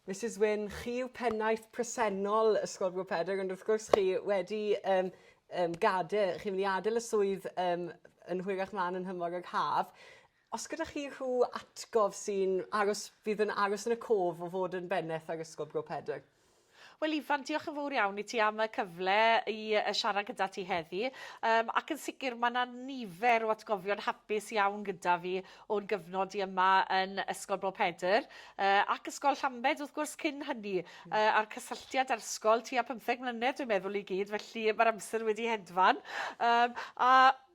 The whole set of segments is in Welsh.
Misus Wyn, chi yw pennaeth presennol Ysgol Gŵyl Pedr, ond wrth gwrs chi wedi um, um, gade, chi'n mynd i adael y swydd um, yn hwyrach mlaen yn hymor ag haf. Os gyda chi rhyw atgof sy'n aros, fydd yn aros yn y cof o fod yn bennaeth ar Ysgol Bro Pedr? Wel Ifan, diolch yn fawr iawn i ti am y cyfle i siarad gyda ti heddi. Um, ac yn sicr mae yna nifer o atgofion hapus iawn gyda fi o'n gyfnod i yma yn Ysgol Bro Pedr uh, ac Ysgol Llambed wrth gwrs cyn hynny uh, a'r cysylltiad â'r ysgol tua 15 mlynedd dwi'n meddwl i gyd felly mae'r amser wedi hedfan um, a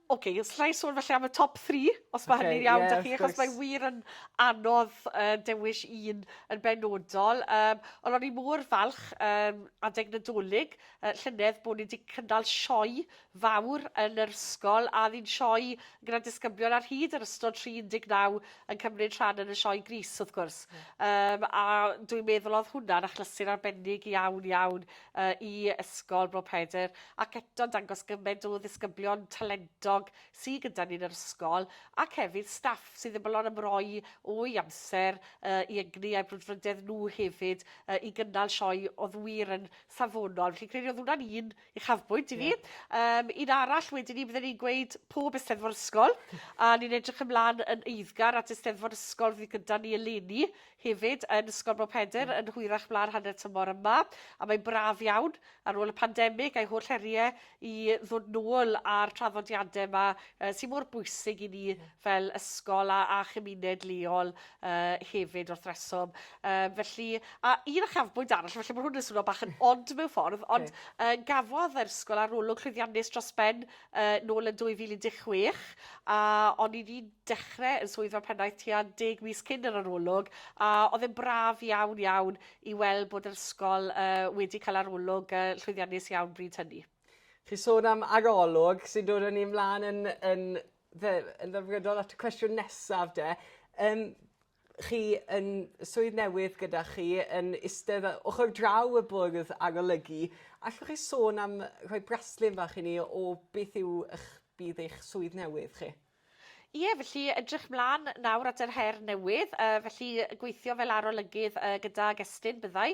Oce, okay, os llai sôn felly am y top 3, os mae okay, hynny'n iawn yeah, da chi, achos mae wir yn anodd uh, dewis un yn benodol. Um, ond o'n i mor falch um, adeg nadolig uh, llynedd bod ni wedi cynnal sioe fawr yn yr ysgol a oedd hi'n sioe gyda disgyblion ar hyd yn ystod tri 19 yn cymryd rhan yn y sioe gris wrth gwrs. Yym, a dwi'n meddwl oedd hwnna'n achlysur arbennig iawn iawn uh, i ysgol Bro Pedr ac eto'n dangos gymaint o ddisgyblion talentog sydd gyda ni'n yr ysgol ac hefyd staff sydd ddim yn ymroi o'i amser uh, i egni a'i brwdfrydedd nhw hefyd uh, i gynnal sioe oedd wir yn safonol. Felly credu oedd hwnna'n un Uchafbwynt i fi. Yym un arall wedyn 'ny bydden i'n gweud pob Eisteddfod Ysgol a ni'n edrych ymlan yn eiddgar at Eisteddfod Ysgol fydd gyda ni eleni hefyd yn Ysgol Bro Pedr yn hwyrach mlaen hanner tymor yma a mae'n braf iawn ar ôl y pandemig a'i holl heriau i ddod nôl a'r traddodiadau yma uh, sy'n mor bwysig i ni fel ysgol a, a chymuned leol uh, hefyd wrth reswm. Uh, felly, a un achafbwynt arall, felly mae hwn yn swnio bach yn od mewn ffordd, ond okay. uh, gafodd yr ysgol arolwg llwyddiannus dros ben uh, nôl yn 2016, a o'n i wedi dechrau yn swydd fel pennaeth tua deg mis cyn yr arolwg, a oedd yn braf iawn iawn i weld bod yr ysgol uh, wedi cael arolwg uh, llwyddiannus iawn bryd hynny. Chi sôn am arolwg sy'n dod yn ei mlaen yn, yn Fe- yn ddelfrydol at y cwestiwn nesaf 'de yym chi yn y swydd newydd gyda chi yn istedd yy ochr draw y bwrdd arolygu allwch chi sôn am rhoi braslun fach i ni o beth yw 'ych bydd eich swydd newydd chi? Ie felly edrych mlan nawr at yr her newydd yy felly gweithio fel arolygydd yy gydag Estyn byddai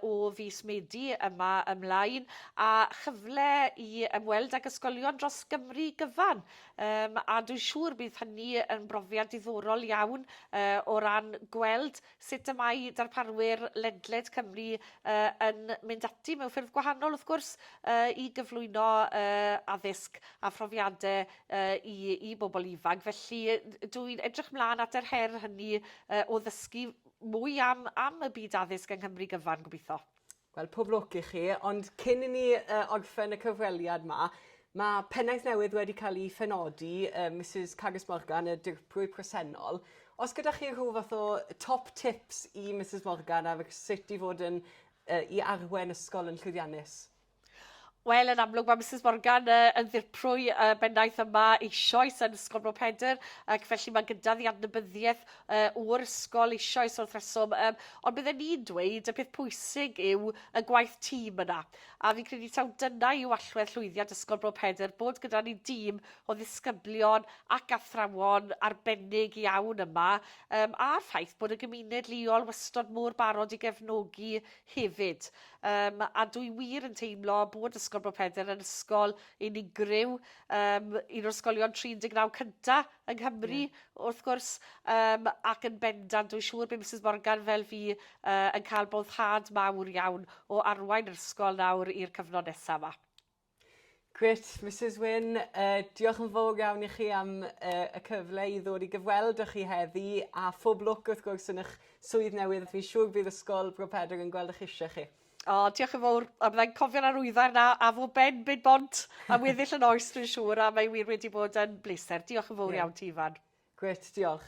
o fis Medi yma ymlaen, a chyfle i ymweld ag ysgolion dros Gymru gyfan. Um, a dwi'n siŵr bydd hynny yn brofiad diddorol iawn uh, o ran gweld sut y mae darparwyr ledled Cymru uh, yn mynd ati mewn ffyrdd gwahanol, wrth gwrs, uh, i gyflwyno uh, addysg a phrofiadau uh, i, i bobl ifanc. Felly dwi'n edrych mlaen at yr her hynny uh, o ddysgu mwy am am y byd addysg yng Nghymru gyfan, gobeithio. Wel, pob lwc i chi, ond cyn i ni uh, orffen y cyfweliad ma, mae pennaeth newydd wedi cael ei phenodi, uh, Mrs Cagus Morgan, y dirprwy presennol. Os gyda chi rhyw fath o top tips i Mrs Morgan ar sut i fod yn uh, i arwen ysgol yn llwyddiannus? Wel, yn amlwg mae Misus Morgan uh, yn ddirprwy uh, bennaeth yma eisoes yn Ysgol Bro Pedr, ac felly mae gyda ddi adnabyddiaeth uh, o'r ysgol eisoes wrth reswm. Um, ond bydden ni'n dweud y peth pwysig yw y gwaith tîm yna. A fi'n credu taw dyna yw allwedd llwyddiant Ysgol Bro Pedr, bod gyda ni dîm o ddisgyblion ac athrawon arbennig iawn yma, um, a'r ffaith bod y gymuned leol wastod mor barod i gefnogi hefyd. Yym a dwi wir yn teimlo bod Ysgol Bro Pedr yn ysgol unigryw, um, un o'r ysgolion 39 cynta yng Nghymru, yeah. wrth gwrs, um, ac yn bendant, dwi'n siŵr bod Mrs Morgan fel fi uh, yn cael boddhad mawr iawn o arwain yr ysgol nawr i'r cyfnod nesaf yma. Grêt Misus Wyn, yy diolch yn fowr iawn i chi am yy y cyfle i ddod i gyfweld â chi heddi a phob lwc wrth gwrs yn 'ych swydd newydd. Fi'n siŵr bydd Ysgol Bro Pedr yn gweld 'ych isie chi. O, diolch yn fowr. A byddai'n cofio'r arwyddair 'na a fo Ben bid bont am weddill y noes dwi'n siŵr a mae wir wedi bod yn bleser. Diolch yn fowr iawn ti Ifan. Grêt, diolch.